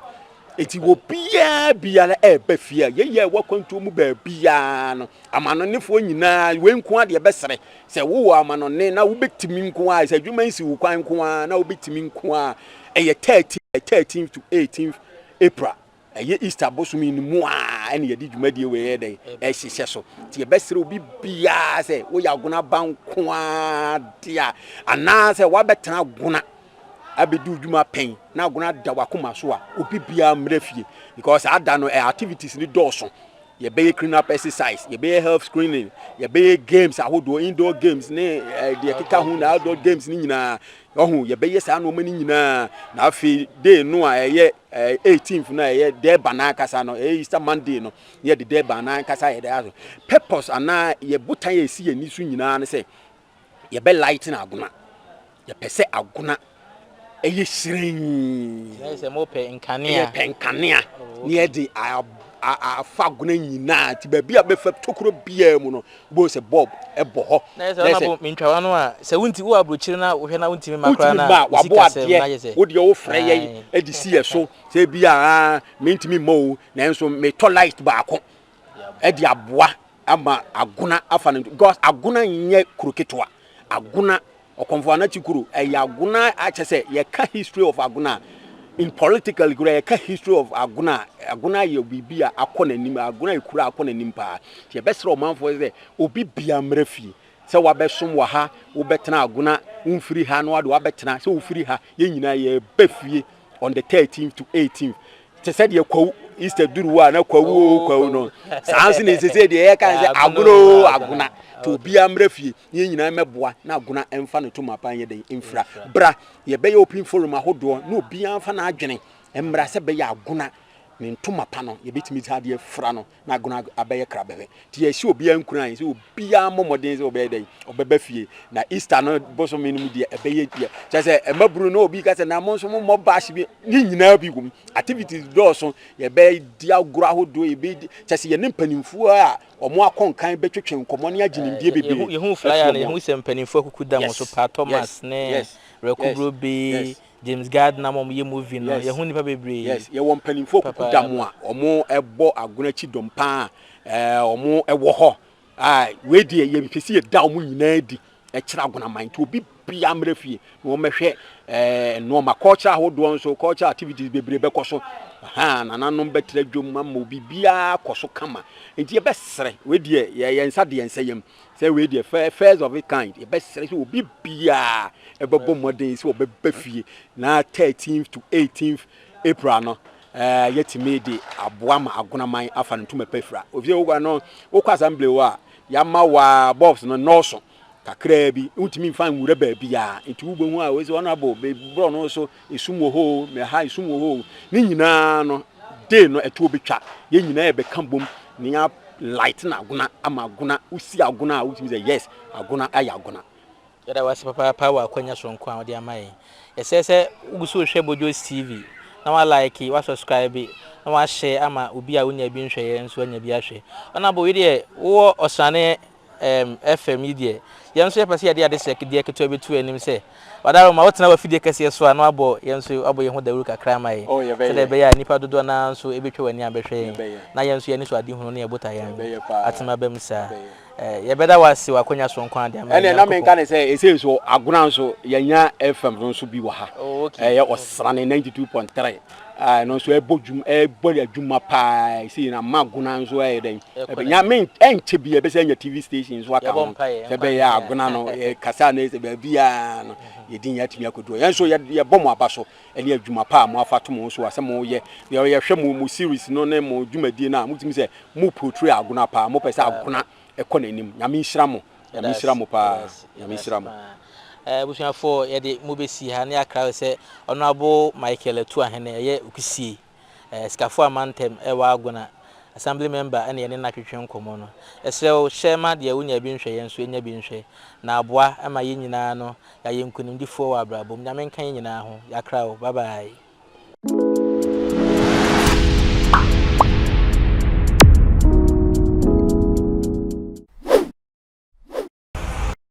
S2: nti wɔ biara biara ɛba fie a yɛyɛ ɛwɔ akwantuo mu baabiara no amanɔnefoɔ nyinaa wei nko adeɛ bɛsrɛ sɛ wowɔ amanɔne na wobɛtumi nko a sɛ adwuma nsi wo kwan nko a na wobɛtumi nko a ɛyɛ 13 13 to 18 April Ɛyɛ Easter bosome no mu ara na yɛde dwumadie wei yɛ dɛn ɛhyehyɛ so. Nti yɛbɛsrɛ obi biara sɛ woyɛ agona ba nko ara de a anaasɛ woabɛtena agona abɛdi wo dwuma pɛn na agona da wakoma so a obi biara mmerɛ fie because ada no eh, activities ne dɔɔso yɛbɛyɛ clean up exercise yɛbɛyɛ health screening yɛbɛyɛ games ahodoɔ indoor games ne eh, deɛ keka ho na outdoor games ne nyinaa Wahu? Yɛbɛyɛ saa nnoɔma no nyinaa, na afei day no a ɛyɛ ɛɛ eighteenth no a ɛyɛ Durban ankasa no, ɛyɛ Easter Monday no, na yɛde Durban no ankasa yɛde aso. Purpose anaa yɛ botan a esi yɛn ani so nyinaa ne sɛ yɛbɛ lighten Agona. Yɛpɛ sɛ Agona ɛyɛ hyerɛnn. Yɛyɛ sɛ mo pɛ
S1: nkanea. Yɛ pɛ nkanea. Oh, okay. Na yɛde
S2: a a afa Agona nyinaa ti baabi a bɛfa tokuro biara mu no Wobɛhu sɛ bulb bɔ hɔ. Na ayɛ sɛ ɔno abo mentwa
S1: w'ano a, sɛ wonti wowɔ aburokyire na wohwɛ na wontumi mma koraa no a, wosi kasɛm na ayɛ sɛ. Wontumi mma a, wabo adeɛ,
S2: wo deɛ wofrɛ yɛn de si yɛn so sɛ ebi a mentumi mma o, nanso metɔ light baako de aboa ama Agona afa no, because Agona nyɛ kuro ketewa, Agona Okomfo Anokye Kuro ɛyɛ Agona a kyɛ sɛ yɛka history of Agona a in politically kura yɛka history of Agona a Agona yɛ biribi a akɔ n'anim Agona yɛ kura akɔ n'anim paa nti yɛbɛsrɛ ɔmanfoɔ sɛ obi bia mmerɛ fie sɛ wabɛsom wɔ ha wobɛtena Agona womfiri ha na wade wabɛtena sɛ wofiri ha yɛn nyinaa yɛbɛ fie on the 13th to 18th te sɛ deɛ kwawu easter duru hɔ a na kwawu o kwawu no saa nso na ɛsɛ sɛ deɛ yɛka sɛ agona o agona nti obiara mmerɛ fie na yɛn nyinaa mmɛboa na Agona mfa ne to mu aban nyɛ dɛn mfira. Bra yɛbɛyɛ open forum ahodoɔ na obiara mfa n'adwene mmra sɛ bɛyɛ Agona ne ntoma pa no yɛbɛtumi dze adeɛ afira no na Agona abɛyɛ krabɛhwɛ. Nti yɛhyɛ obiara nkuran sɛ obiara mmɔ mmɔden sɛ ɔbɛyɛ dɛn ɔbɛba fie na Easter no bosome no mu deɛ ɛbɛyɛ deɛ kyɛ sɛ mmabunu no obi ka sɛ na mo nso mo mmɔ bash bi ne nyinaa bi wom activities dɔɔso yɛbɛdi agorɔ ahodoɔ yɛbɛdi kyɛ sɛ yɛne mpanimfoɔ a Wɔn a kɔnkan bɛtwetwe nkɔmmɔ ne agye nimdeɛ bebree Yɛhuu flyer no, afi wɔn
S1: yɛhuu
S2: sɛ
S1: mpanyimfo akuku da mo so paa, Thomas ne Reko Brobe, James Gardner ma wɔyɛ movie no, yɛhuu nnipa bebree. Yes, yɛwɔ mpanyimfo
S2: akuku da mo a wɔbɔ agono akyi dɔm paa a wɔwɔ hɔ a wei deɛ yɛmpɛ sɛ yɛda wɔn nyinaa adi ɛkyerɛ agonaman nti obi bia mmerɛ fie na wɔmɛhwɛ eh, nnoɔma culture ahodoɔ nso culture activities bebree bɛkɔ so ha nananom bɛtira dwom ama obi biara kɔ so kama nti yɛbɛsrɛ wei deɛ yɛyɛ nsa deɛ nsɛ yam sɛ wei deɛ first of it kind yɛbɛsrɛ sɛ obi biara ɛbɛbɔ mmɔden sɛ ɔbɛbɛ fie na 13th to 18th april no eh, yɛtumi de aboa ma agonaman afa no ntoma pɛ fira ofisɛ wokɔ no wokɔ assembly hɔ a Yɛama wo a bulbs no nnɔɔso kakraa bi. Wontumi mfa nwura baabiara, nti wobɛhu a wɔsi honourable be borɔ no so esum wɔ hɔ o, ɛha esum wɔ hɔ o. Ne nyinaa no day no ɛtoɔ bɛtwa. Yɛn nyinaa yɛbɛka bom na yɛa lighten agona ama agona. Wosi agona a wotumi sɛ yes agona ayɛ agona. Yɛda wo ase
S1: papaapa wɔ akwanya soronko a wode ama yɛn. Yɛsrɛ sɛ wogu so rehwɛ Bojos TV na woalaeke, woasɔskraibe, na woahyɛ ama obi a wonyaa bi nhwɛeɛ nso anya bi ahwɛ. Ɔnabo, wo deɛ wowɔ Ɔsrane ɛɛm FM yi deɛ, yɛn nso yɛpɛ sɛ yɛde adesrɛdeɛ ketewa bi to wo anim sɛ Ɔdaro ma wotena w'afidie kɛseɛ so a na woabɔ yɛn nso woabɔ yɛn ho dawuru kakra ama yɛn Oh, yɛbɛyɛ. sɛdeɛ ɛbɛyɛ a nnipa dodoɔ no ara nso bɛtwa wɔn ani abɛhwɛ yɛn Yɛbɛyɛ. na yɛn nso yɛn anisoadehunu ne yɛn botaeɛ no Yɛbɛyɛ paa. atumi aba mu saa. Yɛbɛyɛ. Yɛbɛda wo ase wɔ akwanya soronko a de ama yɛn Nyankopɔn. Ɛne na menka ne sɛ ɛsɛ
S2: nso Agona nso yɛnya FM no nso bi wɔ ha. Oh, okay. Ɛyɛ Ɔsrane 92.3 a ɛno nso ɛbɔ dwum ɛbɔ adwuma paa ɛsɛ yɛn ama Agona nso ɛyɛ dɛn. Ɛbɛnya me ɛnkyɛ bi ɛbɛsɛ anya TV station nso aka ho. Sɛ bɛyɛ Agona no kasa no ɛsɛ baabi a no yɛdi yɛn atumi akodu. Yɛn nso yɛbɔ mo aba so ɛne adwuma pa a mo afa to mo ho so a sɛ mo yɛ deɛ yɛ hwɛ mo mo series no ne mo dwumadie no a mo tumi sɛ mo portray agona paa mo pɛ sɛ agona ɛkɔ n'anim nyame nhyira mo nyame nhyira mo paa nyame nhyira mo. Abusuafoɔ
S1: yɛde mo bɛsi ha ne akra sɛ Honourable Michael Atuahene ɛyɛ okusie. Sikafoa Mantam wɔ Agona, Assembly Member na yɛne no atwetwe nkɔmmɔ no. Yɛsrɛ wo, hyɛ ma deɛ wonya bi nhwɛ yɛn nso yɛnya bi nhwɛ, na aboa ma yɛn nyinaa no yɛayɛ nkunimdifoɔ wɔ abrabɔ mu. Nyame nka yɛn nyinaa ho. Yɛakra wo. Bye bye.